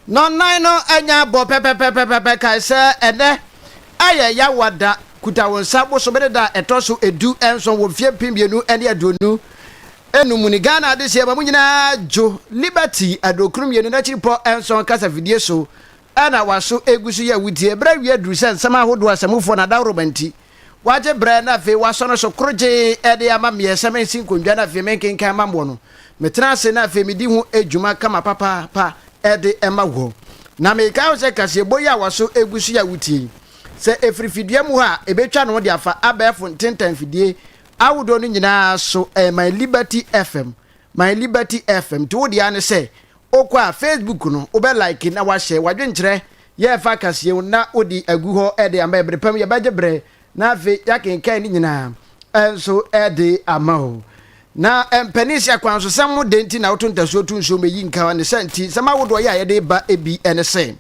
Nɔnnan no anya bɔ pɛpɛpɛpɛpɛ kae sɛ, Ɛnnɛ yɛ Yawa da, kuta wo nsa bosome ne da a ɛtɔ so edu nson wɔ mfeɛ mpem mmienu ne aduonu nnum mu ne Ghana adehyeɛ ma mo nyinaa dwo Liberty aduokron mmienu n'akyiripɔ nson kasafidie so na wɔaso gu so yɛ awudie. Bere awie aduru sɛ nsɛm ahodoɔ, asamufoɔ, na adaworoma nti, wɔagye berɛ na afei wɔasɔ no so korogyee de ama meɛ sɛ mensi nkondwa na afei menkenkan mma moɔ no. Metena ase na afei medi ho dwuma kama papaapa de ma wɔ. Na mekae ho sɛ kaseɛbɔ yi a wɔaso gu so yɛ awutie yi, sɛ ɛfiri fidua mu hɔ a, ɛbɛtwa ne ho de afa abɛɛfo ntentanfidie ahodoɔ no nyinaa so, ɛyɛ My Liberty FM, My Liberty FM, nti wo deɛ ara ne sɛ Wokɔ a, Facebook no, wobɛ like na woahyɛ w'adwenkyerɛ yɛ ɛfa kaseɛ ho na wode agu hɔ de ama yɛ. Berepɛ mu yɛbɛgye berɛ na afei yɛakenkan ne nyinaa nso de ama wo. Na mpaninhyia kwan so, sɛm ho dɛn nti na woto ntasuo to nsuom ɛyi nkawa ne sa nti? Nsɛm ahodoɔ yi a yɛde reba bi ne se,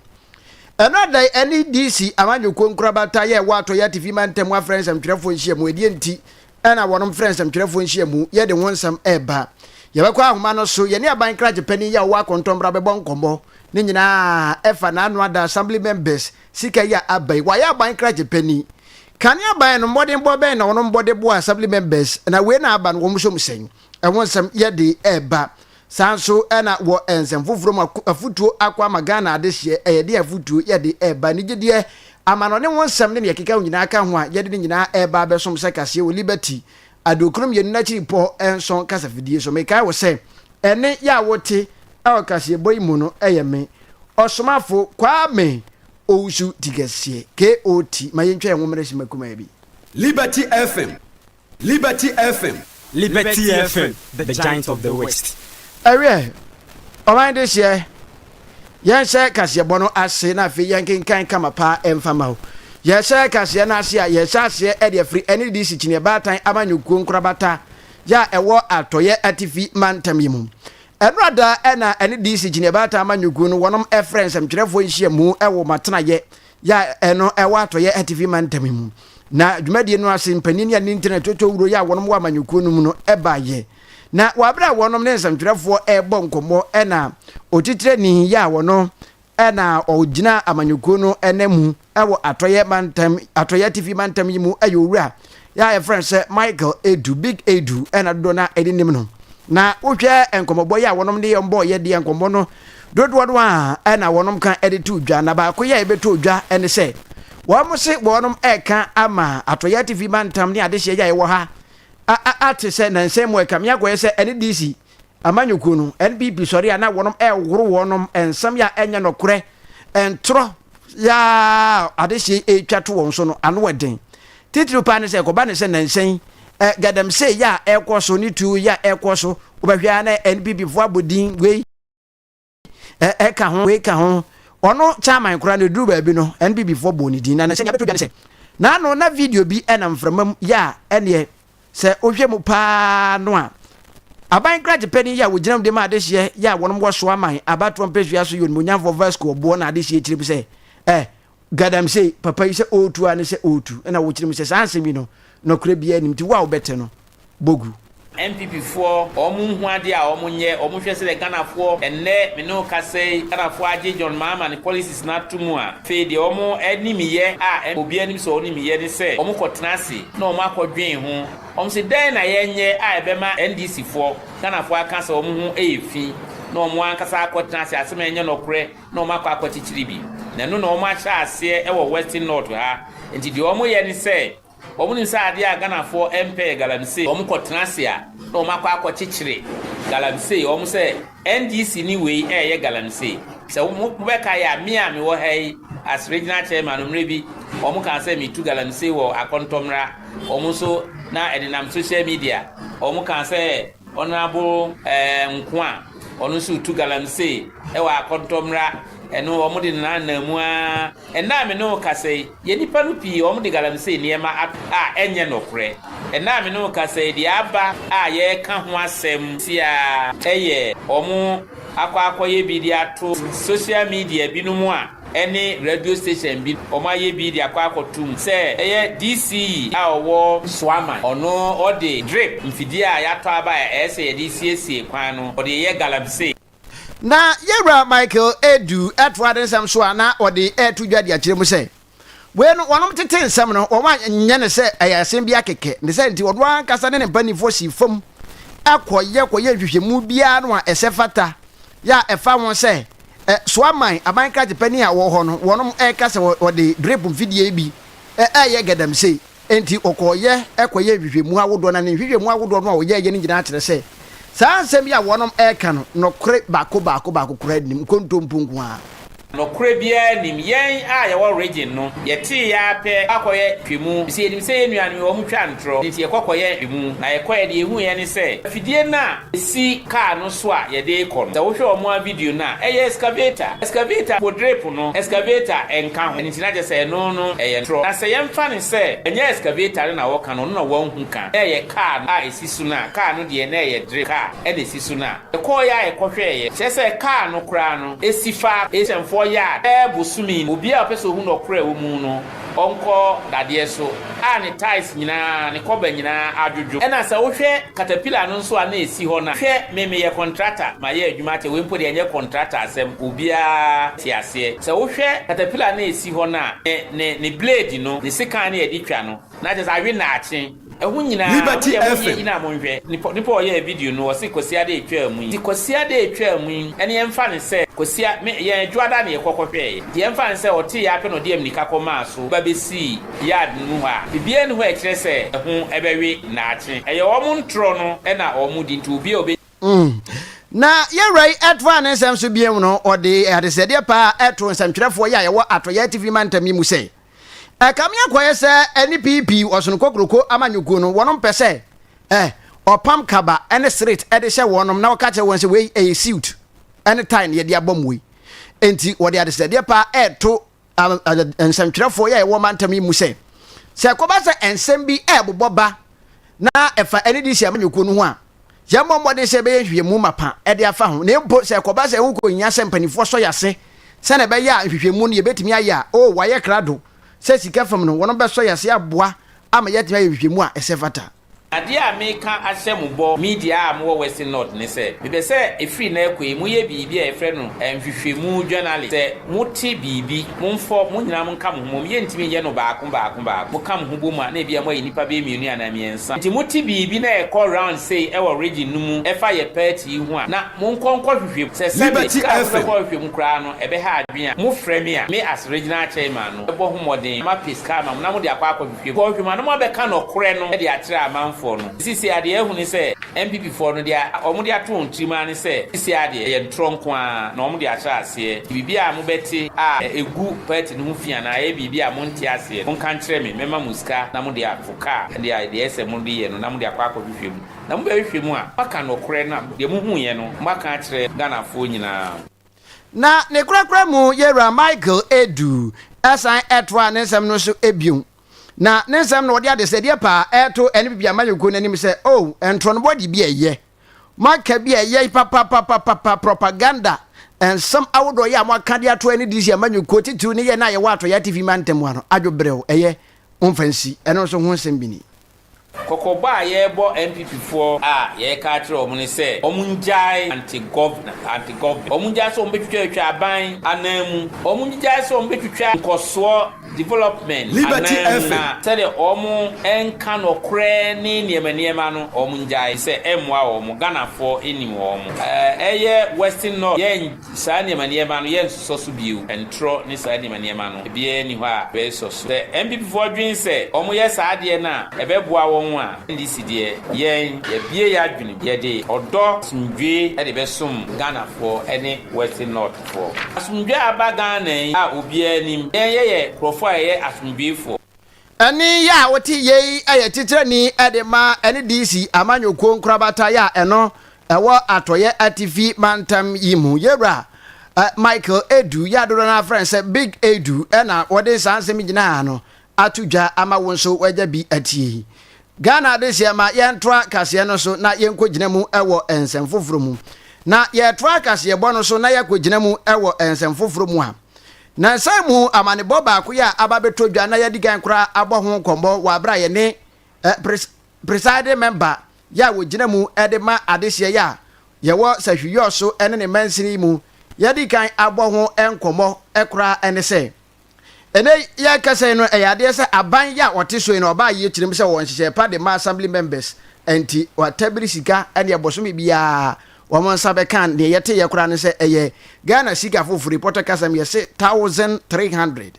Ɛno ada ɛne DC Amanyɔkuo Nkorabata yɛ ɛwɔ Atɔeɛ Atifi Mantam Afrɛ Nsɛmtwerɛfoɔ Nhyiamu, ɛdeɛ nti na wɔnom frɛ nsɛmtwerɛfoɔ nhyiamu yɛ de ho nsɛm reba. Yɛbɛkɔ ahoma no so, yɛne aban krakye panin yi a ɔwɔ akɔntɔnbra bɛbɔ nkɔmmɔ. Ne nyinaa ɛfa n'ano ada Assembly members sika yi a aba yi. Wayɛ aban krakye panin. Kane aban no, mmɔdenbɔ bɛn na wɔnom bɔ de boa Assembly members, na wei na aba no wɔn som sɛn? Ɛho nsɛm yɛ de reba. Saa nso na wɔ nsɛm foforɔ mu afotuo akɔ ama Ghana adehyeɛ a yɛde afotuo yɛde reba anigyedeɛ, amanɔne ho nsɛm ne nea ɛkeka ho nyinaa ka ho a yɛde ne nyinaa reba abɛsom sɛ kaseɛ wɔ Liberty aduokron mmienu no akyiri pɔ nson kasafidie so. Mekae wo sɛ ɛnne yɛ a wote wɔ kaseɛbɔ yi mu no yɛ me Ɔsomafo Kwame Owusu Tikɛseɛ, KOT. Ma yɛntwa yɛn ho mmrɛ simma kumaa bi. Liberty FM, Liberty FM. Liberty FM, the giant of the west. Ɛwiɛ, ɔman yi dehyeɛ, yɛnhyɛ kaseɛbɔ no ase na afei yɛnkenkan kama paa mfa ma o. Yɛhyɛ kaseɛ no ase a, yɛhyɛ aseɛ de afiri NDC Kyiniiɛ Baatan Amanyɔkuo Nkorabata yɛ a ɛwɔ Atɔeɛ Atifi Mantam yi mu. Ɛnora da na NDC Kyiniiɛ Baatan Amanyɔkuo no wɔnom frɛ nsɛmtwerɛfoɔ nhyiamu wɔ wɔn atenaeɛ yɛ a ɛno ɛwɔ atɔyɛ atifi mantam mu. Na dwumadie no ase mpanin yɛ ne ntina toto wuro yɛ a wɔnom wɔ amanyɔkuo no mu no baayɛ. Na wɔ abere a wɔnom ne nsɛmtwerɛfoɔ ɛrebɔ nkɔmmɔ ɛna otitirani yɛ a wɔno ɛna ɔgyina amanyɔkuo no ɛna mu ɛwɔ atɔyɛ mantam atɔyɛ atifi mantam yi mu ɛyɛ owura yɛ a yɛfrɛ no sɛ Michael Edu, Big Edu na dodoɔ no a ɛde nim no. Na wohwɛ nkɔmmɔbɔ yɛ a wɔnom de yɛ mbɔ yɛ deɛ nkɔmmɔ no dodoɔ no a na wɔnom ka de to dwa na baako yɛ a yɛbɛtɔ dwa ne sɛ wɔn se wɔnom ɛka ama Atɔyɛ Atifi Mantam ne adehyeɛ yɛ a yɛwɔ ha a a ate sɛ nansan mu ɛka me akɔyɛ sɛ ɛne DC Amanyɔkuo no, NBB sɔre a na wɔnom ɛɛhoro wɔnom nsɛm yɛ a ɛnyɛ nɔkorɛ, ntorɔ yɛ a adehyeɛ ɛɛtwa to wɔn so no ano wɔ den. Titiriw paa ne sɛ ɛkɔba ne sɛ nansa yi gadamsee yɛ a ɛɛkɔ so ne tuo yɛ a ɛɛkɔ so, wobɛhwɛ a na NBB foɔ abɔ din wei, ɛ ka ho wei ka ho ɔno chairman koraa no ɛduru baabi no NPP foɔ bɔɔ ne din na sɛdeɛ abɛto dwa ne sɛ na ano na video bi ɛna mframa mu yɛ a ɛneɛ sɛ wohwɛ mu paa no a aban kragyepɛni yɛ a wɔgyina mu de ma adehyeɛ yɛ a wɔnom wɔsoa man abatoɔ mpɛsua so yɛ onimonyamfoɔ Vasco ɔboɔ na adehyeɛ kyerɛ mu sɛ ɛ Galamsey, papa yi sɛ ɔɔtu a ne sɛ ɔɔtu, ɛna wokyerɛ mu sɛ saa asɛm yi no nɔkorɛ biaa nnim, nti wo a wobɛte no bɔ gu. NPP foɔ ɔɔmo nhu adeɛ a ɔɔmo nyɛ, ɔɔmo hwɛ sɛdɛ Ghana foɔ, ɛnnɛ me ne wo kasa yi, Ghana foɔ agye John Mahama ne policies no ato mu a, fei deɛ ɔɔmo anim yɛ a obiaa nim sɛ ɔɔnim yɛ ne sɛ ɔɔmo kɔ tena ase na ɔɔmo akɔ dwen ho, ɔɔmo se dɛn na yɛ nyɛ a ɛbɛma NDC foɔ, Ghana foɔ aka sɛ ɔɔmo ho ɛyɛ fi na ɔɔmo ankasa akɔ tena ase, asɛm a ɛnyɛ nɔkorɛ. na wɔakɔ akɔkyekyere bi, na ɛno na wɔahyɛ aseɛ wɔ Western North ha, nti deɛ wɔyɛ ne sɛ, wɔnim sɛ adeɛ a Ghanafoɔ mpɛ yɛ galamsey, wɔkɔ tena ase a na wɔakɔ akɔkyekyere galamsey, wɔn sɛ NDC ni wei reyɛ galamsey, sɛ mobɛkae a me a mewɔ ha yi as Regional Chairman no mmerɛ bi wɔn kaa sɛ metu galamsey wɔ Akɔntɔmmra, wɔn nso na ɛdenam social media wɔn kaa sɛ. Honourable Nkoa a ɔno nso retu galamsey wɔ Akɔntɔ mmra, ɛno wɔn de nna nna mu ara, ɛnnɛ a me ne wo kasa yi, yɛn nnipa no pii wɔn de galamsey nneɛma a ɛnyɛ nɔkorɛ, ɛnnɛ a me ne wo kasa yi, deɛ aba a yɛreka ho asɛm seaa yɛ wɔn akɔ akɔyɛ bi de ato social media binom a. ɛne radio station bi ɔmo ayɛ bi de akɔ akɔtum sɛ ɛyɛ DCE a ɔwɔ Nsoaman ɔno ɔde drip mfidie a yatɔ aba a ɛyɛ sɛ yɛde siesie kwan no ɔde yɛ galamsey. Na Yɛwura Michael Edu toa ne nsɛm so a na ɔde reto dwa de akyerɛ mu sɛ, Wei no wɔnom tetee nsɛm no wɔn a nyɛ no sɛ ɛyɛ asɛm bi akɛkɛ ne sɛ nti ɔno ankasa ne ne mpaninfoɔ sii fam kɔ yɛ kɔ yɛ nhwehwɛmu biara no a ɛsɛ fata yɛ a ɛfa ho sɛ Ɛ, so aman, aban krakyepa ni a ɔwɔ hɔ no, wɔnom ɛka sɛ wɔ, wɔde drip mfidie yi bi ɛ, ɛɛyɛ gadamsei. Enti ɔkɔɔyɛ ɛkɔyɛɛ nhwehwɛmu ahodoɔ, na ne nhwehwɛmu ahodoɔ no a ɔyɛɛyɛ no nyinaa kyerɛ sɛ, saa nsɛm yi a wɔnom ɛɛka no, nɔkore baako baako baako koraa nnim, nkontompo nko ara. Nɔkorɛ biara nnim. Yɛn a yɛwɔ region no, yɛtee ara pɛ akɔyɛ nhwehwɛmu, efisɛ yɛnim sɛ yɛn nuanom yi, wɔtwa ntorɔ, enti yɛkɔ kɔyɛ nhwehwɛmu, na yɛkɔeɛ deɛ yɛhuuiɛ ne sɛ, afidie no a, si kaa no so a yɛde rekɔ no. Sɛ wohwɛ wɔn ara video no a, ɛyɛ excavator. Excavator po drip no, excavator nka ho. Ɛno nti na kyerɛ sɛ ɛno no yɛ ntorɔ. Na sɛ yɛmfa no sɛ ɛnyɛ excavator no na wɔka no, ɔno na wɔahu ka, na ɛyɛ kaa no a ɛsi so no a, kaa no deɛ na ɛyɛ drip kaa na ɛsi so no a, yɛkɔeɛ a yɛkɔhwɛeɛ, kyerɛ sɛ kaa no koraa no si faako, asianfoɔ yard, bɛyɛ bosome ni. Obiara a ɔpɛ sɛ ɔhu nɔkorɛ a ɛwɔ mu no, Ɔnkɔ dadeɛ so a ne tiles nyinaa, ne kɔba nyinaa adwodwo. Ɛna sɛ wohwɛ caterpillar no nso a na ɛsi hɔ no a, hwɛ me meyɛ contractor, mayɛ adwuma akyɛ, wei mpo deɛ ɛnyɛ contractor asɛm, obiara te aseɛ. Sɛ wohwɛ caterpillar no a ɛsi hɔ no a, ne ne ne blade no, ne sekan no a yɛde twa no, na kyerɛ sɛ awe nnaakye. Ɛho nyinaa Liberty wodeɛ monyɛ FM. gyina monhwɛ nipa nipa ɔyɛɛ video no ɔse kwasiada ɛtwaa mu yi nti kwasiada ɛtwaa mu yi ɛne yɛmfa no sɛ kwasia me yɛn adwoada na yɛkɔ kɔhwɛɛ yɛ nti yɛmfa no sɛ ɔtee yɛ apɛ na ɔde amnika kɔ maa so ba bɛsii yard no mu hɔ a bibiaa nni hɔ a ɛkyerɛ sɛ ɛho ɛbɛwe daakye ɛyɛ wɔn ntorɔ no ɛna wɔn di nti obiaa ɔbɛ Mm. Na Yɛwura yi ɛtofaa ne nsɛm so biom no, ɔde adesrɛdeɛ paa too nsɛmtwerɛfoɔ yi a yɛwɔ Atɔeɛ Atifi Mantam yi mu sɛ, Ɛkame akɔyɛ sɛ ɛne PP ɔsono kokroko amanyɔkuo no, wɔnom pɛ sɛ eh ɔpam kaba ne sret de hyɛ wɔnom na ɔka kyerɛ wɔn sɛ wei ɛyɛ siut ne tae na yɛde abɔ mo wei. Enti wɔde adesrɛdeɛ paa ɛreto ah nsɛmtwerɛfoɔ yɛ a yɛwɔ mantam yi mu sɛ, sɛ ɛkɔba sɛ nsɛm bi ɛrebobɔ ba na ɛfa NDC amanyɔkuo no ho a, Yɛmmɔ mmɔden sɛ yɛbɛyɛ nhwehwɛmu mapa de afa ho, na mpo sɛ ɛkɔba sɛ ɛho kɔhia sɛ mpanimfoɔ sɔ yɛn ase sɛnea ɛbɛyɛ a nhwehwɛmu no yɛbɛtumi ayɛ a, oh, wɔayɛ krado sɛ sika fam no, wɔbɛsɔ yɛn ase aboa ama yɛatumi ayɛ nhwehwɛmu a ɛsɛ fata. Adeɛ a meka ahyɛ mo bɔ, me deɛ a mowɔ Western North, ne sɛ, mepɛ sɛ ɛfiri nnɛ rekɔ yi, moyɛ biribi a yɛfrɛ no nhwehwɛmu journalling. Sɛ mote biribi, momfɔ mo nyinaa monka mo ho mmom. Yɛntumi nyɛ no baako baako baako. Moka mo ho bom a, na ebia moayi nnipa bɛyɛ mmienu anaa mmiɛnsa. Sɛ nti mote biribi na ɛkɔ round sei wɔ region no mu ɛfa yɛ party yi ho a na monkɔ nkɔ hwehwɛ mu. Sɛ sɛbe Liberty kra FM. mobɛkɔ hwehwɛ mu koraa no ɛbɛha adwene a, mo frɛ me a, me as regional chairman no mɛbɔ ho mmɔden ma pe sika ama mo na mode akɔ akɔ hwehwɛ mu. Kɔ hwehwɛ mu a na moabɛka nɔkorɛ no de akyerɛ amanfoɔ no. Nti sisi adeɛ ahu ne sɛ NPP foɔ no deɛ wɔn de ato wɔn tirim ara ne sɛ sisi ara deɛ ɛyɛ ntorɔ nko ara na wɔn de ahyɛ aseɛ. Nti biribi a mobɛte a ɛgu party no ho fi anaa ɛyɛ biribi a monte aseɛ no monka nkyerɛ me mɛma mo sika na mode akɔ. kaa deɛ a deɛ ɛsɛ mode yɛ no na mode akɔ akɔhwehwɛ mu. Na mobɛhwehwɛ mu a, moaka nokorɛ no a deɛ mohuuiɛ no moaka akyerɛ Ghanafoɔ nyinaa. Na ne korakora mu yɛwura Michael Adu san toaa ne nsɛm no so bio. Na ne nsɛm no ɔde adesɛdeɛ paa reto NPP amanyɔkuo no anim sɛ, Oh, ntorɔnobɔ de bi a ɛyɛ. Moaka bi a ɛyɛ papapapapapa, propaganda, nsɛm ahodoɔ yɛ a moaka de ato NDC amanyɔkuo, titiriw ne yɛn a yɛwɔ Atɔeɛ Atifi Mantam ha no, adwoberɛw, ɛyɛ, Momfa nsi, ɛno nso ho nsɛm bi ni. Kɔkɔbɔ a yɛrebɔ NPP foɔ a yɛreka akyerɛ wɔn ne sɛ wɔn ngyae anti governor anti government wɔn ngyae sɛ wɔn bɛtwitwa atwa aban anan mu wɔn ngyae sɛ wɔn bɛtwitwa nkɔsoɔ development anan mu na sɛdeɛ wɔn nka nɔkorɛ ne nneɛma nneɛma no wɔn ngyae sɛ ɛmmoa wɔn Ghana foɔ nnim wɔn ɛɛ ɛyɛ western north yɛ Saa nneɛma nneɛma no, yɛnsosɔ so bio. Ntorɔ ne saa nneɛma nneɛma no, ebiara nni hɔ a yɛbɛsosɔ so. Sɛ NPPfoɔ dwen sɛ wɔyɛ saa adeɛ no a, ɛbɛboa wɔn a, NDC deɛ, yɛn, yɛabue yɛn adwenem. Yɛde ɔdɔ, asomdwoeɛ de bɛsom Ghanafoɔ ne Western Northfoɔ. Asomdwoeɛ a aba Ghana yi a obiara nim, yɛn yɛyɛ nkurɔfoɔ a yɛyɛ asomdwoeɛfoɔ. Ɛnne yɛ a wote yei yɛ titrani de ma NDC amanyɔkuo nkorabata yɛ a ɛno ɛwɔ atɔeɛ atifi mantam yi mu. Yɛwura Michael Adu, yɛ a dodoɔ no ara frɛ no sɛ Big Adu na wɔde saa nsɛm nyinaa no ato dwa ama wo nso woagya bi atie yi. Ghana adehyeɛ ma yɛntoa kaseɛ no so na yɛnkɔgyina mu wɔ nsɛm foforɔ mu. Na yɛtoa kaseɛbɔ no so na yɛakɔgyina mu wɔ nsɛm foforɔ mu a, Nnansa yi mu amanebɔ baako yi a aba abɛtɔ dwa na yɛadi kan koraa abɔ ho nkɔmmɔ wɔ bere a yɛne pres, presiding member yɛ a wɔgyina mu de ma adehyeɛ yɛ a yɛwɔ Sahwiyɔɔ so ne ne mansini yi mu yɛadi kan abɔ ho nkɔmmɔ koraa ne sɛ ɛnɛ yɛrekasa yi no ɛyɛ adeɛ sɛ aban yɛ a wɔte so yi no ɔbaa yie kyirim sɛ wɔwɔ nhyehyɛe pa de ma assembly members nti wɔatabiri sika ɛne ɛbosome biara Wɔn nsa bɛka a, deɛ yɛteeɛ koraa ne sɛ ɛyɛ Ghana sika foforɔ, reporter ka sɛm, yɛse thousand three hundred.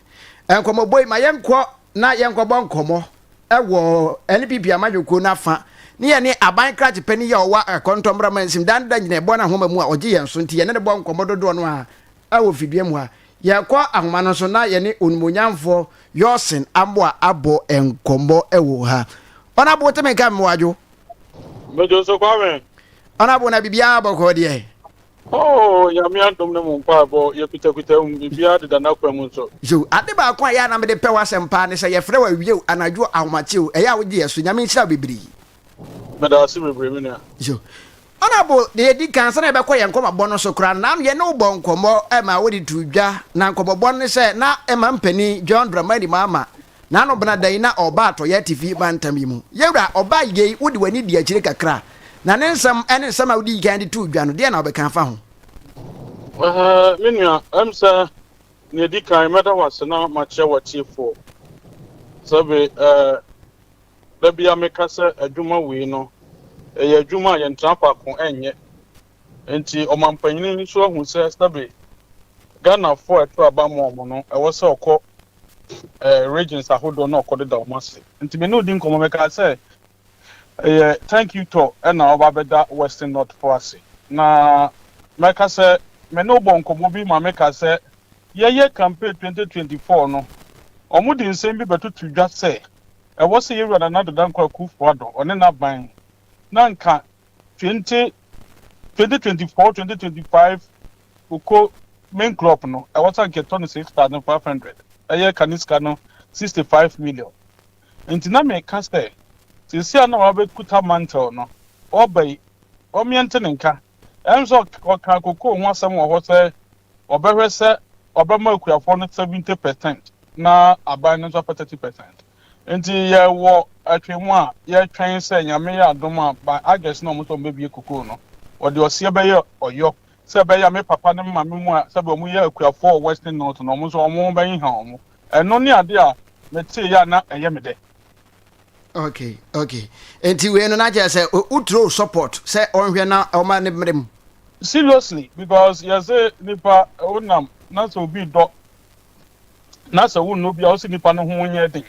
Nkɔmmɔbɔ yi, ma yɛnkɔ na yɛnkɔbɔ nkɔmmɔ wɔ NPP amanyɔkuo no afa ne yɛne aban krakye panin yi a ɔwɔ Akɔntɔmmra mansin, Dan Dan gyina ɛbɔ no ahoma mu a ɔgye yɛn so nti yɛne no bɔ nkɔmmɔ dodoɔ no ara wɔ fidua mu ha. Yɛkɔ ahoma no so na yɛne Onimonyamfoɔ Yɔsen Amoah abɔ nkɔmmɔ wɔ ha. Ɔnabo, wote me nka Mmoadwo? Mejo so Kwame. Honourable na biribiara bɔkɔɔ deɛ. Oh nyame adom ne mo mpaebɔ yɛkutakuta mu biribiara deda n'akwan mu nso. Yo, ade baako a ɛyɛ a na mede pɛ w'asɛm paa ne sɛ yɛfrɛ wo awia o, anadwo o, ahomakye o, ɛyɛ a wogye yɛn so. Nyame nhyira wo bebree. Meda ase bebree me nua. Yo, Honourable deɛ yɛdi kan ansa na yɛbɛkɔ yɛn nkɔmmɔbɔ no so koraa no, na yɛne wo bɔɔ nkɔmmɔ ma wode too dwa, na nkɔmmɔbɔ no ne sɛ na ɛma mpanin John Dramani Mahama N'ano bena dɛn na ɔɔba atɔeɛ atifi mantam yi mu? Yewura, ɔbaa yi ei, wode w'ani dii akyire kakra, na ne nsɛm ne nsɛm a wodii kan de too dwa no, deɛn na wobɛka afa ho? Ɛhɛ, me nua, ɛwɔ mu sɛ nea ɛdi kan mɛda wo ase na makyerɛ w'atiefoɔ sɛ be ɛ, da biara meka sɛ adwuma wei no, ɛyɛ adwuma a yɛntena faako nyɛ, Enti ɔmanpanyin no nso ahu sɛ sɛbe Ghanafo a ɛto aba ma wɔn no, ɛwɔ sɛ ɔkɔ ɛɛ regions ahodoɔ na ɔkɔdeda wɔn ase. Nti me ne odi nkɔmmɔ, mekaa sɛ, Ɛyɛ Thank You Tour na wɔaba abɛda Western North fo ase. Na mɛka sɛ me ne wo bɔɔ nkɔmmɔ bi ma mekaa sɛ yɛyɛ campaign 2024 no, wɔde nsɛm bi bɛtoto dwa sɛ ɛwɔ sɛ yɛwura Nana Dadanko Akuffo-Addo, ɔne n'aban, na nka Twenty twenty twenty four twenty twenty five wokɔ main crop no ɛwɔ sɛ nka ɛtɔ no six thousand five hundred ɛyɛ kane sika no sixty five million nti na meka sɛ sisi a na wabɛkuta mantle no ɔba yi wɔmeɛ nte ne nka ɛnso ɔka kokoo ho asɛm wɔ hɔ sɛ ɔbɛhwɛ sɛ ɔbɛma akuafoɔ no seventy percent na aban no nso apɛ thirty percent. Ntsi yɛwɔ atwemu a yɛtwɛn sɛ Nyame yɛ adom a by August na ɔmo sɛ ɔmo bebue cocoa no. Wɔde ɔseɛ bɛyɛ ɔyɔ sɛ ɛbɛyɛ a me papa ne me maame mu a sɛdeɛ ɔmo yɛ akuafoɔ wɔ Western North no ɔmo nso ɔmo ho bɛheha ɔmo. Ɛno ne adeɛ a meteeɛ a na ɛyɛ me dɛ. Okay okay nti wei no na kyerɛ sɛ wo throw support sɛ ɔnhwɛ na ɔma ne mmere mu. Seriously because yɛse nipa wonam na sɛ obi dɔ na sɛ wonnɔ obi a, ɔsɛ nnipa no ho nyɛ den.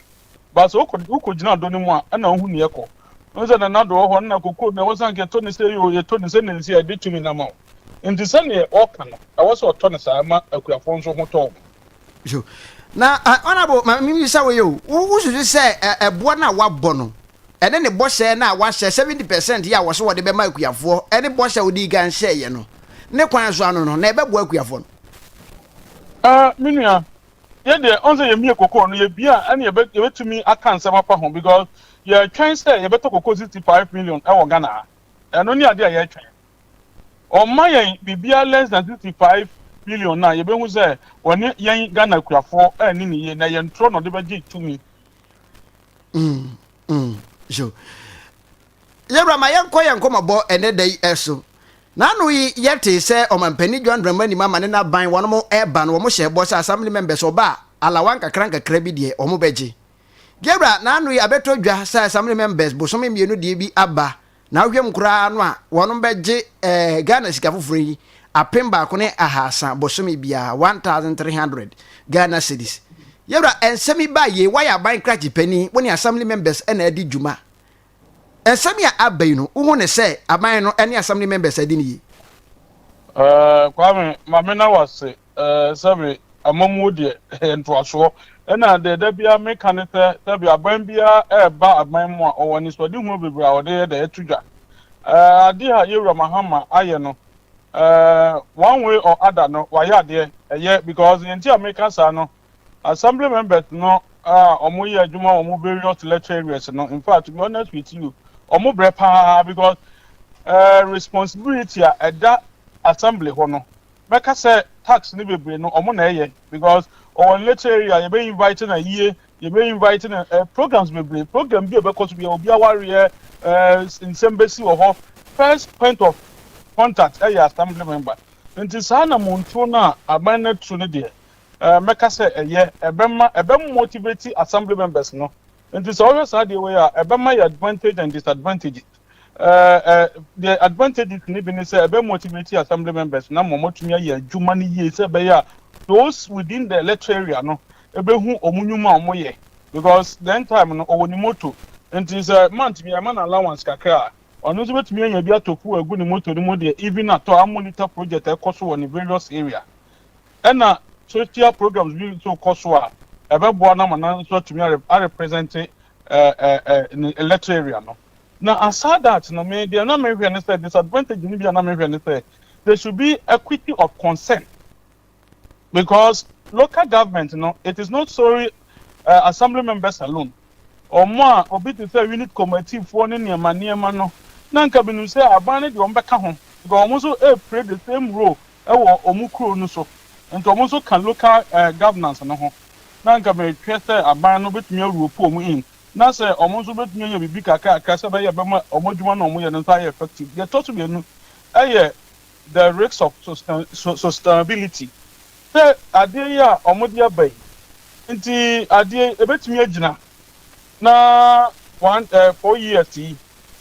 But sɛ wokɔ wokogyina dɔ no mu a, ɛna wohu nea ɛkɔ. Wohu sɛ Nana do wɔ hɔ, ɛna kokoo na ɛwɔ sɛ anka ɛtɔ no sei o, yɛtɔ no sɛnea nsi a yɛde tumi no ama wo. Nti sɛnea ɔka no, ɛwɔ sɛ ɔtɔ no saa, ɛma akuafoɔ nso ho tɔ wɔn. So, na Honourable, ma memmisa wo yi o, wo wosusu sɛ ɛ ɛboɔ no a woabɔ no, ɛne ne bɔhyɛ no a woahyɛ, seventy percent yi a wɔse wɔde bɛma akuafoɔ, ɛne bɔhyɛ a wodii kan hyɛeɛ no, ne kwan so ano no, na ɛbɛboa akuafoɔ no? Ah me nua, yɛ deɛ ɔn sɛ yɛmie kokoo no yɛbie a ɛne yɛbɛ yɛbɛtumi aka nsɛm afa ho because yɛretwɛn sɛ yɛbɛtɔ kokoo sixty five million ɛwɔ Ghana ha, ɛno ne adeɛ a yɛretwɛn. Ɔmma yɛn biribiara less than sixty five million no a yɛbɛhu sɛ ɔne yɛn Ghana akuafoɔ anni ne yie na ɛyɛ ntorɔ na ɔde bɛgye tumi. Mm, so. Yɛwura ma yɛnkɔ yɛn nkɔmɔbɔ ɛnɛ da yi ɛso. N'ano yi yɛte sɛ ɔmampanin John Dramani Mahama ne n'aban wɔn ɛba no wɔn hyɛ bɔ sɛ assembly members ɔba a alawa nkakra nkakra bi deɛ wɔn bɛgye. Yɛwura n'ano yi abɛtɔ dwa sɛ assembly members bosome mmienu deɛ bi aba Na wohwɛ mu koraa no a, wɔnom bɛgye eh, Ghana sika foforɔ yi apem baako ne ahaasa bosome biara, 1,300 Ghana cedis. Yɛwura, nsɛm yi baa yei, woayɛ aban krakye panin, wo ne Assembly members na adi dwuma. Nsɛm yi a aba yi no, wohu ne sɛ aban no ne Assembly members adi no yie? Eh, Kwame, ma me na wase Eh, sɛbe amammuo deɛ ɛyɛ ntoasoɔ. Ɛna deɛ da biara meka ne sɛ, sɛbe aban biara reba aban mu a, ɔwɔ anisoadehuo bebree a ɔde yɛ dɛ, to dwa. Eh, adeɛ a Yawura Mahama ayɛ no, eh, one way or other no, wayɛ adeɛ. Ɛyɛ, because deɛ nti a meka saa no, Assembly members no a wɔyɛ adwuma wɔ wɔn various lecture areas no, in fact, to be honest with you, wɔn brɛ paa, because eh, responsibility a ɛda Assembly hɔ no, mɛka sɛ tax no bebree no ɔmo na ɛyɛ because ɔwɔ ne nature area yɛbɛ invite na yie yɛbɛ invite na eh, programs bebree program bi a ɛbɛkɔ so bia obi awareɛ eh, nsɛm bɛsi wɔ hɔ first point of contact ɛyɛ assembly member nti saa na montuo no a aban no atu no deɛ eh, mɛka sɛ ɛyɛ ɛbɛma ɛbɛmotivate assembly members no nti sɛ ɔhwɛ saa deɛ wei a ɛbɛma yɛ advantage and disadvantages eh, the advantages no bi ne sɛ ɛbɛ motivate assembly members na ma wɔatumi ayɛ adwuma no yie sɛ ɛbɛyɛ a those within the electoral area no ɛbɛhu wɔn nnwuma a wɔyɛ because then time no ɔwɔ ne moto nti sɛ month bi ɛma no allowance kakra a ɔno nso bɛtumi anya bi atɔ fuel agu ne moto no mu deɛ even atɔ a monitor project ɛkɔ so wɔ ne various area ɛna social programs bi nso kɔ so a ɛbɛboa no ama no nso atumi arepresente eh, eh, eh, ne electoral area no Na aside that no me deɛ na me hwɛ ne sɛ disadvantage no bi a na me hwɛ ne sɛ there should be equity of consent because local government no it is not sorry eh, assembly members alone wɔn a obi te sɛ unit committee foɔ ne nneɛma nneɛma no na nka menim sɛ aban no deɛ wɔn bɛka ho because wɔn nso eh, play the same role ɛwɔ wɔn kuro no so nti wɔn nso ka local eh, governance no ho na nka mehwɛ sɛ aban no bɛtumi awuropu wɔn in na sɛ wɔn nso betumi ayɛ biribi kakraakra sɛ ɛbɛyɛ a ɛbɛma wɔn adwuma no a wɔyɛ no nso ayɛ effective. Deɛ ɛtɔ so mmienu yɛ the risk of sustainability, sɛ adeɛ yi a wɔde aba yi nti adeɛ yi ebetumi agyina na wɔn ɛɛ four years yi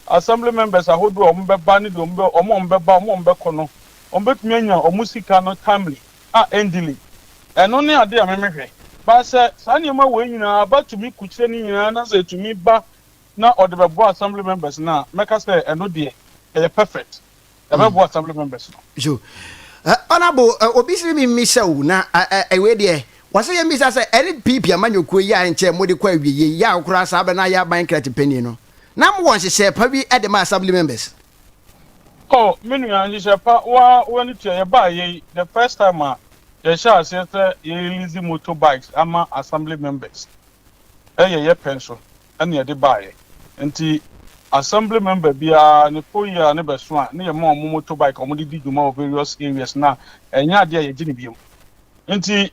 assembly members ahodoɔ a wɔbɛba ne deɛ wɔn a wɔbɛba wɔn a wɔbɛkɔ no wɔbetumi anya wɔn sika no timely. a endi ni. Ɛno ne ade a memehwɛ. Ba sɛ saa nneɛma wei nyinaa ba tumi kukyire no nyinaa na sɛ ɛtumi ba na ɔde bɛboa assembly members no a, mɛka sɛ ɛno deɛ ɛyɛ perfect. Ɛbɛboa assembly members no. So, eh, honorable, eh, obi sere mi mmisa o, na ɛwei deɛ, wɔsɛ yɛ mmisa sɛ NPP amanyɔkuo yi a nkyɛ mode kɔ awieɛ yi a koraa saa bɛ no ayɛ aban kra tipanin no. na mowɔ nhyehyɛɛ pa bi de ma Assembly members. Oh me nua nhyehyɛɛ pa waa w'ani tua yɛbaa yɛ yi the first time a yɛhyɛɛ aseɛ sɛ yɛyɛ lease motor bikes ama Assembly members ɛyɛ yɛ pɛ nso ɛna yɛde baa yɛ nti Assembly member biara ne full year no bɛso a ne yɛma wɔn motor bike a wɔn de di dwuma wɔ various areas na ɛnyɛ adeɛ a yɛgye no biom nti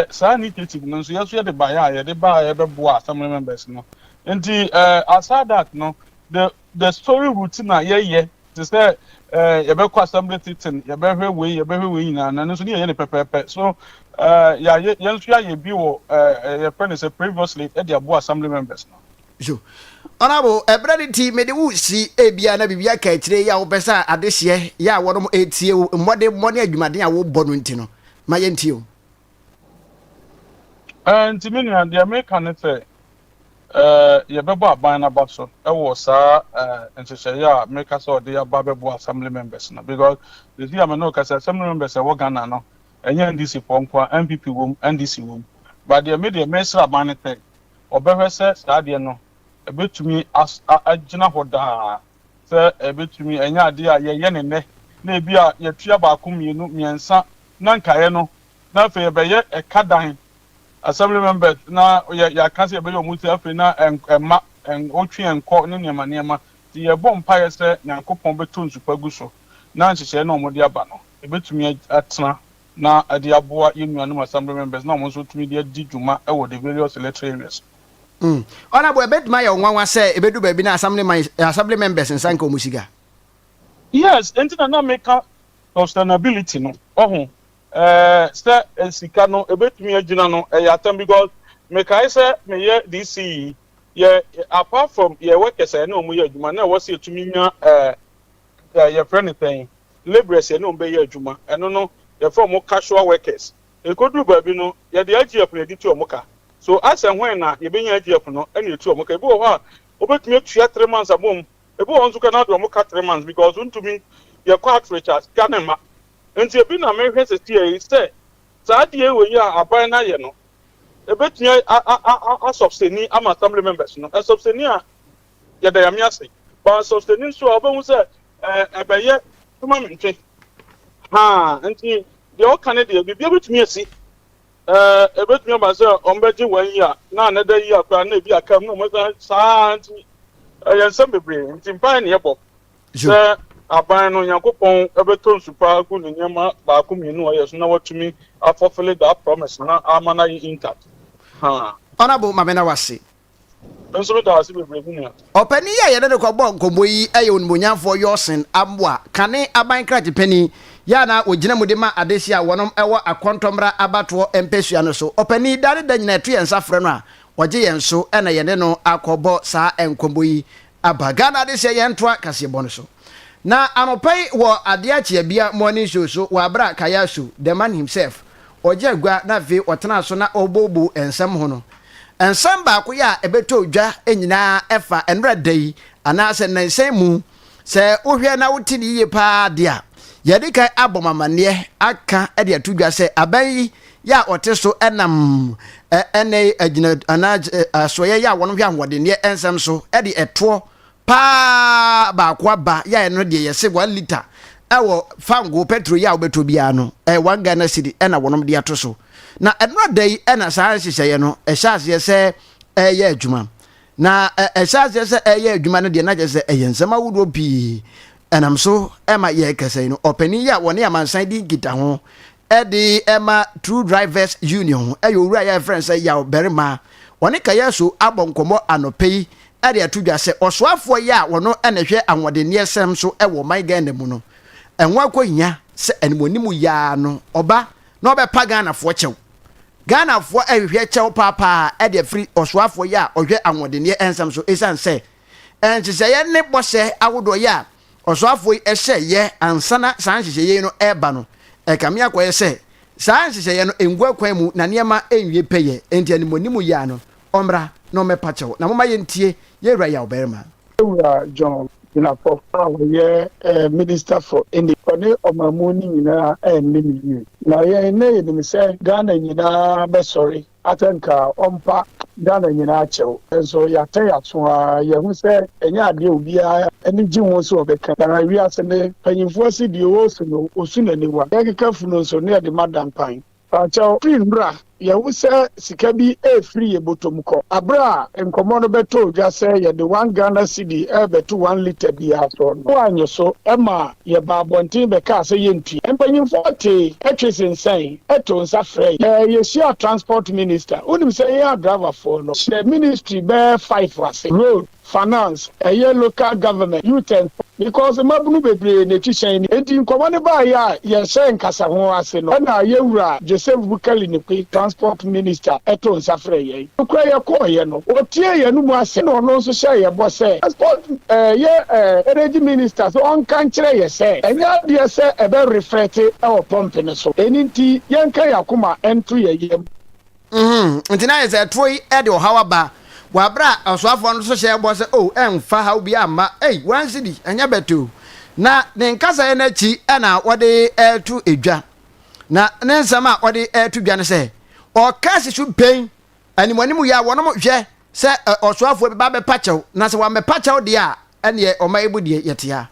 saa initiative no nso yɛso yɛde baeɛ a yɛde baeɛ bɛboa Assembly members no Nti eh, aside that no, the the story routine a yɛyɛ te sɛ eh, yɛbɛkɔ assembly sitting, yɛbɛhwɛ wei, yɛbɛhwɛ wei nyinaa no, ɛno nso ne yɛyɛ no pɛpɛɛpɛ. So eh, yɛayɛ, yɛn nso yɛayɛ bi wɔ eh, eh, yɛfrɛ no sɛ previously de aboa assembly members no. So, Honourable, ɛberɛ no nti mede wo si ebia na biribi aka akyire yi a wopɛ sɛ adehyeɛ yɛ a wɔnom ɛretie wo mmɔdemmɔ ne adwumaden a wobɔ no nti no, ma yɛntie wo. Ɛɛ, nti me nua, deɛ meka ne sɛ, ɛɛ, yɛbɛbɔ aban no aba so wɔ saa ɛɛ nhyehyɛeɛ a meka sɛ ɔde aba bɛboa assembly members no because ɛsi a me ne ɔkasa assembly members ɛwɔ Ghana no ɛnyɛ NDC foɔ nko a NPP wom NDC wom ba deɛ me deɛ mesrɛ aban no sɛ ɔbɛhwɛ sɛ saa deɛ no ɛbɛtumi agyina hɔ daa sɛ ɛbɛtumi ɛnyɛ adeɛ a yɛyɛ no nnɛ na ebi a yɛtua baako mmienu mmiɛnsa na nkaeɛ no na afei ɛbɛyɛ ɛka dan assembly members na yɛ yɛaka sɛ yɛbɛyɛ wɔn ti afei na ɛmma ɛn ɔtwe ɛnkɔ ne nneɛma nneɛma nti yɛbɔ mpaeɛ sɛ Nyankopɔn bɛtɔ nsupa gu so na nhyehyɛeɛ na wɔde aba no ɛbɛtumi atena na ɛde aboa yɛn nuanom assembly members na wɔn nso tumi de adi dwuma wɔ the various electoral areas no. Ɔna bo ɛbɛtumi ayɛ wo nwanwa sɛ ɛbɛdu baabi na assembly members nsa nka wɔn sika. Yes enti na na meka sustainability no wahu eh sɛ sika no ɛbɛtumi agyina no ɛyɛ atam because mekae sɛ meyɛ DC yi yɛ apart from yɛ workers a yɛne wɔn yɛ adwuma na ɛwɔ sɛ yɛtumi nya eh yɛfrɛ no sɛn labourers yɛne wɔn bɛyɛ adwuma ɛno no yɛfrɛ wɔn casual workers Ekodu baabi no, yɛde IGF na yɛde tu wɔn ka. So asɛ whɛn na yebenya IGF no na yɛatu wɔn ka? Ebi wɔ hɔ a, wobetumi atua three months abom. Ebi wɔ hɔ nso koraa na wɔde wɔn ka three months because wontumi yɛ kɔ outreach a, sika no mma. Enti ebi na mehwɛ sesie yi sɛ saa adeɛ wei a aban no ayɛ no, ebetumi a a a asɔbseni ama Assembly members no. Ɛsɔbseni a Yɛda Nyame ase. But Sostene nso a wobɛhu sɛ ɛbɛyɛ ma me ntwe. Haa nti deɛ ɔka ne deɛ biribiara bɛtumi asi. Ɛbɛtumi aba sɛ wɔbɛgye one year na another year koraa na ebi akam na wɔsan saa ara nti ɛyɛ nsɛm bebree nti mpaeɛ na yɛbɔ sɛ aban no Nyankopɔn bɛtɔ nsu pa agu ne nneɛma baako mmienu a ɔyɛ so na watumi afulfille that promise na ama no ayɛ intact. Haa. Honourable Mamena wase. Me nso medaa ase bebree me nua. Ɔpanin yi a yɛne no kɔbɔɔ nkɔmmɔ yi yɛ onimonyamfoɔ Yorson Amoah, Kane aban krakye panin, yɛ a na ɔgyina mu de ma adehye a wɔnom wɔ Akontɔmmra abatoɔ mpɛsua no so. Ɔpanin yi, da ne da nyinaa ɛto yɛn nsa frɛ no a, ɔgye yɛn so na yɛne no akɔbɔ saa nkɔmmɔ yi Aba Ghana de sɛ yɛntoa kaseɛbɔ no so. Na anɔpa yi wɔ Adeɛ Akyea Bia morning show so wɔ aberɛ a Kayasu, the man himself, ɔgye agua na afei ɔtenaa so na ɔreboboo nsɛm ho no, nsɛm baako yɛ a ɛbɛtɔ dwa nyinaa ɛfa ɛnora da yi anaa sɛ nnansa yi mu, sɛ wohwɛ na wote no yie pa ara deɛ a, yɛadikan abɔ mo amanneɛ aka de ato dwa sɛ aban yi yɛ a ɔte so nam ɛnnɛyi agyina anaa asoɛeɛ yɛ a wɔn hwɛ ahoɔdenneɛ nsɛm so de ɛtoɔ paa baako aba yɛ a ɛno deɛ yɛse 1 liter ɛwɔ fango petro yɛ a wobɛtɔ biara no ɛyɛ 1 Ghana cedi ɛna wɔnom de ato so na ɛnora da yi ɛna saa nhyehyɛeɛ no ɛhyɛ aseɛ sɛ ɛyɛ adwuma na ɛhyɛ aseɛ sɛ ɛyɛ adwuma no deɛ na kyɛ sɛ ɛyɛ nsɛm ahodoɔ pii ɛnam so ɛma yɛ kɛsɛ no ɔpanin yɛ a wɔne amansan di nkitaho de ma True Drivers Union ho yɛ owura yi a yɛfrɛ no sɛ Yaw Barima. Ɔne Kayasu abɔ nkɔmmɔ anɔpa yi de ato dwa sɛ ɔsoafoɔ yi a ɔno na ɛhwɛ ahoɔdenneɛsɛm so wɔ ɔman Ghana mu no, ɛho akɔhia sɛ animuanim yi ara no ɔba na ɔbɛpa Ghanafoɔ kyɛw. Ghanafoɔ rehwehwɛ kyɛw paapaa de afiri ɔsoafoɔ yi a ɔhwɛ ahoɔdenneɛ nsɛm so ɛsiane sɛ nhyehyɛeɛ ne bɔhyɛ ahodoɔ yi a ɔsoafoɔ yi hyɛ yɛ ansa na saa nhyehyɛeɛ yi no reba no, ɛkame akɔyɛ sɛ saa nhyehyɛeɛ no ngu akwan mu na nneɛma nwie pɛyɛ, enti animuanimu yea no, ɔmmra na ɔmmɛpa kyɛw, na momma yɛntie yɛn wura yawbarima. Yɛwura John Jinapor a ɔyɛ Minister for Energy, ɔne ɔmanmu no nyinaa anni no yie, na yɛn nnɛ yɛnim sɛ Ghana nyinaa bɛsɔre Atɛnka a ɔmpa Ghana nyinaa kyɛw, nso yɛatɛ yɛn aso ara, yɛahu sɛ ɛnyɛ ade a obiara ani gye ho sɛ ɔbɛka bi. Na wiase no mpanyimfo ase deɛ wɔresu no, wɔsu no aniwa, yɛkeka funu nso na yɛde ma dampan. Fa kyɛw, fi mmra! Yɛahu sɛ sika bi refiri yɛn botom kɔ. Bere a nkɔmmɔ no bɛtɔɔ dwa sɛ yɛde one Ghana cedi rebɛto one lita biara so no, woannye so, ɛmaa Yɛbaa abɔnten bɛkaa sɛ yɛntua. Mpanyimfoɔ tee, twee sensɛn, too nsa frɛe. Ɛɛ yɛhyiaa transport minister. Wonim sɛ yɛn adriverfoɔ no hyɛ ministry bɛyɛ five ase, road, finance, ɛyɛ local government, youth and sports because mmabunu bebree na ɛtu hyɛn no. Enti nkɔmmɔ no baeɛ a yɛhyɛɛ nkasaho ase no na yɛn wura Joseph Bukali Nikwe, transport minister, too nsa frɛɛ yɛn. Nokorɛ yɛkɔɔeɛ no, ɔtiee yɛn anomu asɛm, ɛna ɔno nso hyɛɛ yɛn bɔ sɛ, Passport ɛɛ yɛ ɛɛ Energy Minister sɛ ɔnka nkyerɛ yɛn sɛ, ɛnyɛ adeɛ sɛ ɛbɛ reflɛte wɔ pɔmpe no so, ɛno nti yɛnka yɛn akoma nto yɛn yam. Uhmm nti na ayɛ sɛ ɛtoɔ yi de ɔhaw aba, wɔ aberɛ a ɔsoafoɔ no nso hyɛɛ bɔ sɛ oh ɛnfa haw biara mma, ei one cedi ɛnyɛ bɛtoo, na ne nkasaeɛ no akyi na wɔde reto dwa. Na ne nsɛm a ɔde reto dwa ne sɛ, ɔka si so bɛn animuanimu yɛ a wɔn hwɛ sɛ ɔsoafoɔ bɛba abɛpa kyɛw, na sɛ wammɛpa kyɛw deɛ a, ɛnneɛ ɔma ɛbu deɛ yɛtea.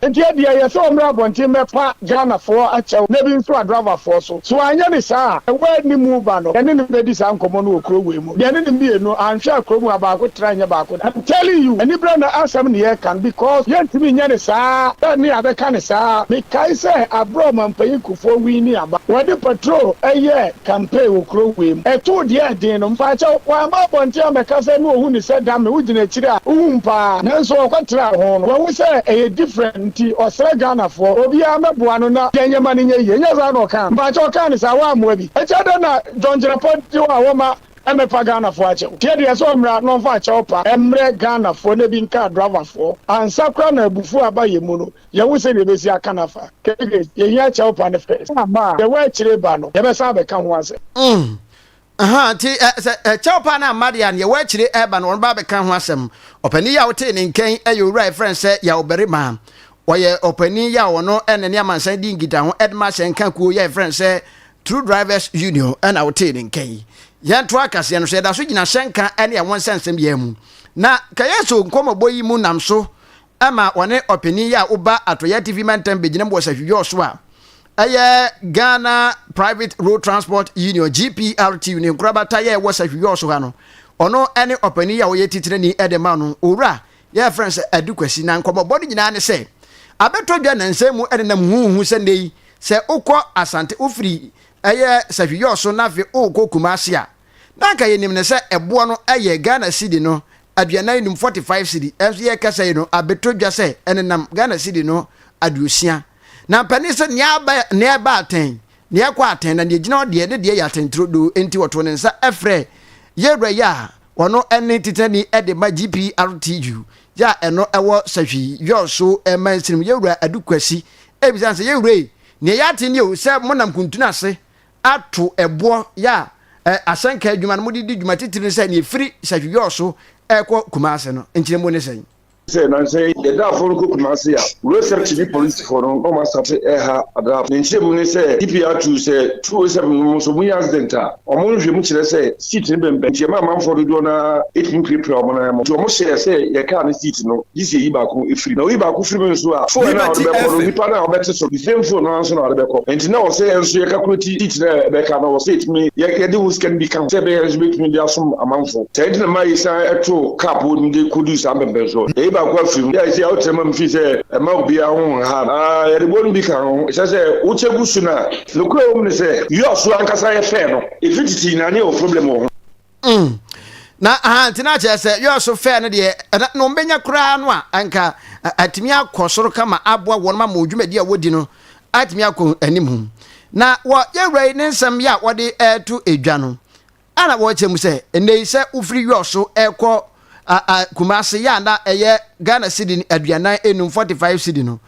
Nti ɛdeɛ ɛyɛ sɛ ɔmmra abɔnten mmɛpa Ghanafoɔ akyɛw na ebi nso Adravafoɔ so. So anyɛ ne saa a, ɛwɔ a ɛnne mu ba no, yɛne no bɛdi saa nkɔmmɔ no wɔ kuro wei mu. Yɛne no mmienu anhwɛ a kuro mu ha baako tra nyɛ baako da. I'm telling you anibra na asɛm ne yɛreka no because yɛntumi nyɛ no saa bɛn ne abɛka no saa mekae sɛ aberɛ a ɔmanpanyin Kufuor winnie aba wɔde patrol yɛɛ campaign wɔ kuro wei mu ɛtoo deɛ ɛden no mpaakyɛw wamma abɔnten ammɛka sɛ ne ɔhu no sɛ Dame wogyina akyire a wohu me paa nanso ɔkɔtraa ho no wahu sɛ ɛyɛ different nti ɔsrɛ Ghanafoɔ obiara mmɛboa no na yɛn nneɛma no nyɛ yie ɛnyɛ saa na ɔkaa no mpaakyɛw ɔkaa no saa woammoa bi. Kyɛw dɛn na John Gyirapɔ de hɔ a wɔma ɛmɛpa Ghanafoɔ akyɛw? Deɛ deɛ sɛ ɔmmra na ɔmfa akyɛw pa ɛmmerɛ Ghanafoɔ na ebi nkaa Dravafoɔ ansa koraa na abufuo aba yɛn mu no yɛnhu sɛdeɛ yɛbɛsi aka no afa kk yɛhia akyɛw pa no first sɛ amma a yɛwɔ akyire ba no yɛbɛsan abɛka ho asɛm. Mm ahaa nti ɛ sɛ ɛkyɛw pa no amma deɛ a neɛ ɛwɔ akyire ɛba no wɔn ba abɛka ho asɛm. Ɔpanin yi a wotee ne nkɛn yɛ owura a yɛfrɛ no sɛ Yaw Barima. Ɔyɛ ɔpanyin yi a ɔno na ne amansan di nkitaho de ma asɛnka kuo yi a yɛfrɛ no sɛ True Drivers Union ɛna wotee ne nka yi. Yɛntoa kaseɛ no so, yɛda so gyina hyɛnka ne ɛho nsɛnsɛm yɛ mu. Na kɛyɛ so nkɔmmɔbɔ yi mu nam so ɛma ɔne ɔpanyin yi a woba Atoyɛ TV mantam bɛgyinam wɔ Sahwidwɔɔ so a ɛyɛ Ghana Private Road Transport Union GPRTU ne nkorabata yɛ wɔ Sahwidwɔɔ so ha no. Ɔno ne ɔpanyin yi a ɔyɛ titirani de ma no, Owura Yɛfrɛ no sɛ Adu Kwasi, na nkɔmmɔbɔ no nyinaa ne sɛ, abɛtɔ dwa nnansa mu ɛnenam huhuuhu sɛ nnɛ yi sɛ wokɔ Asante, wofiri ɛyɛ Sahwi-Yɔɔso na afei wokɔ Kumasi a, na anka yɛnim no sɛ ɛboɔ no ɛyɛ Ghana Cedi no aduanan nnum, 45 Cedi, nanso yɛrekasa yi no abɛtɔ dwa sɛ ɛnenam Ghana Cedi no aduosia. Na mpanin sɛ nea aba, nea ɛba atɛn, nea ɛkɔ atɛn, na nea ɛgyina hɔ deɛ ne deɛ yɛ atɛnturodoo, enti wɔtoo ne nsa frɛɛ Yɛwura yi a Wɔn ne Titenani de ma GPRTU yɛ a ɛno wɔ Sahwi, Yɔɔso, Mansirim, Yɛwura Adu Kwasi. Ebisa no sɛ, Yɛwura yi, nea yɛate nie o sɛ monam kuntunu ase ato boɔ yɛ a asɛnka adwuma no mode di dwuma titiri ne sɛ nea ɛfiri Sahwi Yɔɔso rekɔ Kumase no nkyerɛmu ne sɛn? sɛ nnansa yi yɛdaafo no kɔ Kumasi a, Road Safety ne polisifo no na wɔastate reha adraafo. Ne nkyerɛmu ne sɛ, DPR two, sɛ 207 no mu nso munya accident a, wɔn nhwehwɛmu kyerɛ sɛ seat no bɛmbɛn nti ɛma amanfoɔ dodoɔ no ara tumi pirapira wɔn nan mu. Nti wɔhyɛɛ sɛ yɛn kaa no seat no, gye sɛ yɛyi baako firi mu. Na woyi baako firi mu nso a, phone no a wɔde bɛkɔ no, nipa no a ɔbɛte so no, the same phone no ara nso na wɔde bɛkɔ. Nti na ɛwɔ sɛ yɛn nso yɛkakuleti seat no a ɛbɛka no, ɛwɔ sɛ yɛtumi, yɛde wo sika no bi ka ho sɛ ɛbɛyɛ a yɛn nso yɛbɛtumi de asom amanfoɔ. Sɛ enti na mayi san to cup hɔ no de kodu saa mpɛmpɛnsoɔ no, yɛyi baako afiri mu, de ayɛ sɛ yɛawo tena ma me firi sɛ ɛmma obiara ho nha no. Ah, yɛde bɔ no bi ka ho, ɛsɛ sɛ wokyɛ gu so na. Nokorɛ wɔ mu ne sɛ, yɔɔ so ankasa yɛ fɛɛ no, ɛfiri tete nyinaa ne yɛwɔ problem wɔ ho. Mm, na ah, nti na kyerɛ sɛ yɔɔ so fɛɛ no deɛ na na wɔbɛnya koraa no a, anka atumi akɔ soro kama aboa wɔn ma wɔn dwumadi a wɔdi no atumi akɔ anim. Na wɔ yɛn wura yi ne nsɛm yi a wɔde reto edwa no, a na wɔreteɛ mu sɛ, Ɛnnɛ yi, sɛ wofiri Yɔs so rekɔ Kumase yɛ a na ɛyɛ Ghana cedi aduanan nnum, 45 cedi, no,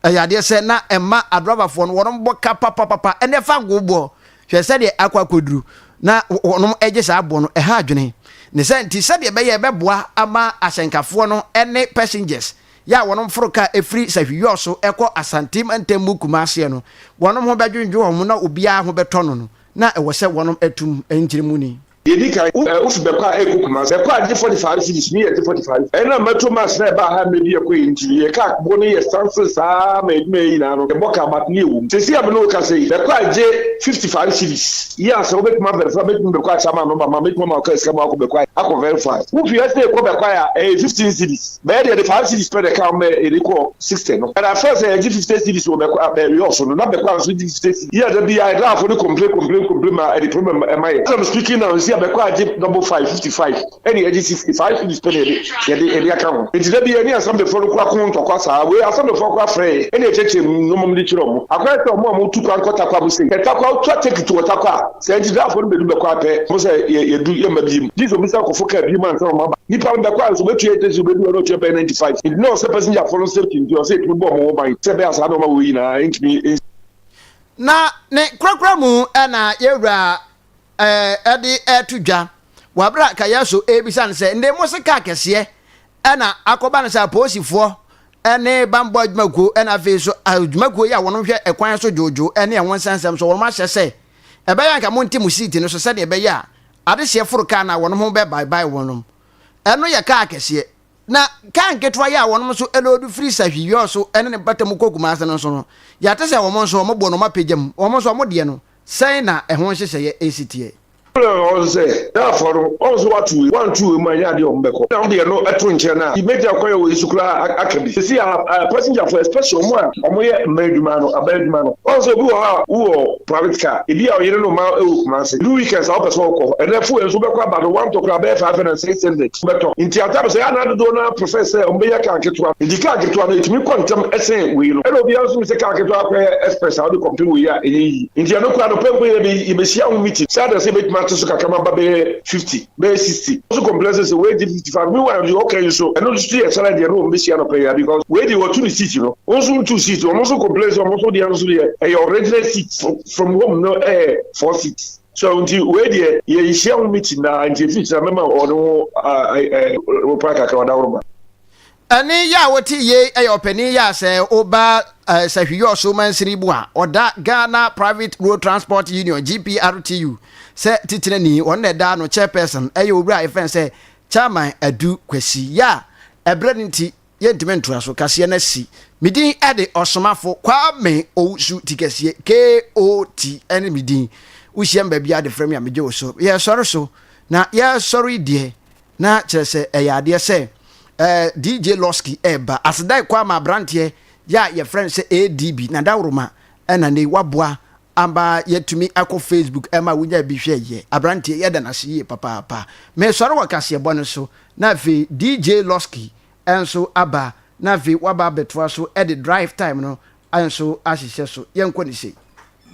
ɛyɛ adeɛ sɛ na ɛmma adrɔbafoɔ no wɔbɔ ka papapapa ne fangoo boɔ. Hwɛ sɛdeɛ akɔ akɔduru na wɔgye saa boɔ no, ɛha adwene. Ne saa nti, sɛdeɛ ɛbɛyɛ ɛbɛboa ama ahyɛnkafoɔ no ne passengers yɛ a wɔforo kaa firi Sahwi Yɔs so rekɔ Asante mantam mu Kumaseɛ no, wɔn ho bɛdwendwen wɔn na obiara ho bɛtɔ no no, na ɛwɔ sɛ wɔnom atum mu nkyere mu ni. Deɛ ɛdi kan, wo wofi Bɛkɔ a ɛrekɔ Kumasi, Bɛkɔ a gye forty five cedis, me yɛ gye forty five, ɛnam mɛto mas na ɛbaa ha a mɛdi ɛkɔ yi nti, yɛ car boɔ no yɛ sansen saa ara ma adwuma yɛ nyinaa no yɛbɔ car but ne yɛ wom. Seesei a me ne wo kasa yi, Bɛkɔ a gye fifty five cedis, yeah sɛ wobɛtumi avɛrifai a mɛtumi Bɛkɔ a kyɛ ama no ba ma mɛtumi ama wo car sika ma woakɔ Bɛkɔ a akɔ vɛrifai. Wofi ha sɛ ɛrekɔ Bɛkɔ a ɛyɛ fifteen cedis. Bɛyɛ deɛ de five cities pɛ na ɛka ho ma yɛde kɔɔ sixty no. Ɛna first a yɛgye fifty cities wɔ Bɛkwa Bɛwiɔ so no, na Bɛkwa nso gye fifty cities. Yɛ da bi a Ɛdaafo no complain complain complain ma ɛde problem ɛma yɛn. As I'm speaking now, seesei a Bɛkwa agye double five, fifty five, ɛna yɛgye sixty, five cities pɛ na yɛde yɛde yɛde aka ho. Enti da bi yɛne Assemblyfoɔ no kora ko ntɔkwa saa. Wei Assemblyfoɔ kora frɛ yɛn ɛna yɛkyerɛkyerɛ mu nnoɔma mu de kyerɛ wɔn. Akora yɛ sɛ wɔn a wɔtu kwan kɔ Tarkwa mu sei, hwɛ Tarkwa, wotu atɛki to wɔ Tarkwa a, Sɛ nti dɛ afɔr no bedu bɛkɔ a, pɛ ho sɛ yedu, yɛmma bio. Gyese obisa kɔfo kaa bio ansa na ɔma ba. Nyimpa no bɛkɔ a, nso obetua yɛ taxi a obedu hɔ no ɔtua bɛyɛ ninety five. Ntsi na ɔsɛ passenger fo no safety ntsi ɔsɛ yetumi bɔ ɔmo ho ban sɛ bɛyɛ a saa nɔɔma wei nyina nntumi nnsi. Na ne korakora mu na yewura de reto dwa wɔ aber a Kayasu rebisa no sɛ, Ndɛ mose kaar kɛseɛ na akɔba no sɛ apolisifoɔ ne bammɔ adwumakuo na afei nso adwumakuo yi a wɔn hwɛ ɛkwan so dwoodwoo ne ɛho nsɛnsɛm so wɔn ahyɛ sɛ ɛbɛyɛ anka monte mo siiti no so sɛdeɛ ɛbɛyɛ a adehyeɛ foro kaa no a wɔn ho bɛbaebae wɔn ɛno yɛ kaa akɛseɛ na kaa nketewa yi a wɔn nso loodu firi sahwi yɔɔ so ne ne bata mu kɔ kumase no nso no yɛate sɛ wɔn nso wɔn boɔ no wɔn apagya mu wɔn nso wɔn deɛ no sɛn na ɛho nhyehyɛeɛ ɛsi teɛ. Ɔno na ɔse sɛ Ghanafoɔ no wɔn so wɔato wei wɔanto wei mu anyɛ adeɛ a wɔn bɛkɔ na wo deɛ no to nkyɛn a mɛgyina kwan a ɛwɔ yi so koraa aka bi. Sɛsi a passenger foɔ especially wɔn a wɔn yɛ mmaa adwuma no aban adwuma no wɔn sɛ obi wɔ hɔ a wo wɔ private car ebi a ɔyere ne mma wɔ Kumasi through weekends a wopɛ sɛ wɔkɔ hɔ ɛnɛ fuel nso wobɛkɔ aba no wɔntɔ koraa bɛyɛ five hundred and six hundred wobɛtɔ nti at times ɛyɛ anaa dodoɔ no ara prefer sɛ wɔn bɛnya car ketewa nti car ketewa no ɛtumi kɔ ntɛm ɛsen wei no ɛna obiara nso nim sɛ car ketewa akɔyɛ express a wode kɔmpem wei a ɛnyɛ yie. Enti ɛno koraa no, pɛn pɛn yi yɛbɛhyia ho meeting sɛ adanse bɛtumi ato so kakra ma aba bɛyɛ fifty, bɛyɛ sixty. Wɔn nso complain sɛ sɛ wɔregye fifty five, meanwhile deɛ ɔka yi nso ɛno nso yɛ challenge a ɛne wɔn bɛhyia anɔpa yi ara because wei deɛ watu ne seat no, wɔn nso ntu seat. Wɔn nso complain sɛ wɔn nso deɛ nso deɛ ɛyɛ original seat from home no ɛyɛ four seats. So nti wei deɛ yɛnhyia ho meeting na nti ɛfiri kyena mɛma wɔn ho reply kakra ɔdaworo ma. Ɛne yɛ a wote yei ɛyɛ ɔpanin yɛ a sɛ woba Sahwi-Yɔɔso Mansiri mu a, ɔda Ghana Private Road Transport Union, GPRTU, sɛ titenani, ɔno na ɛda ano, Chairperson, ɛyɛ Owura a yɛfrɛ no sɛ Chairman Adu Kwasi. Yɛ a ɛberɛ no nti yɛntumi ntoa so, kaseɛ no asi. Me din de Ɔsomafo Kwame Owusu Tikasie, KOT, ɛne me din. Wohyia me baabiara de frɛ me a megye wo so. Yɛresɔre so, na yɛresɔre deɛ Na kyerɛ sɛ ɛyɛ adeɛ sɛ eh, DJ Losky ɛreba. Asedae kɔ ama abranteɛ yɛ a yɛfrɛ no sɛ ADB, na dawroma ɛna nei waboa ama yɛatumi akɔ Facebook ɛma wonya bi hwɛ yɛ. Abranteɛ yɛda no ase yie papaapa. Mesɔre wɔ kaseɛbɔ no so na afei DJ Losky nso aba na afei waba abɛtoa so de Drive Time no nso ahyehyɛ so. Yɛnkɔ ne sei.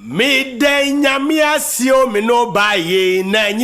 Meda Nyame ase o me ne wo baa yei na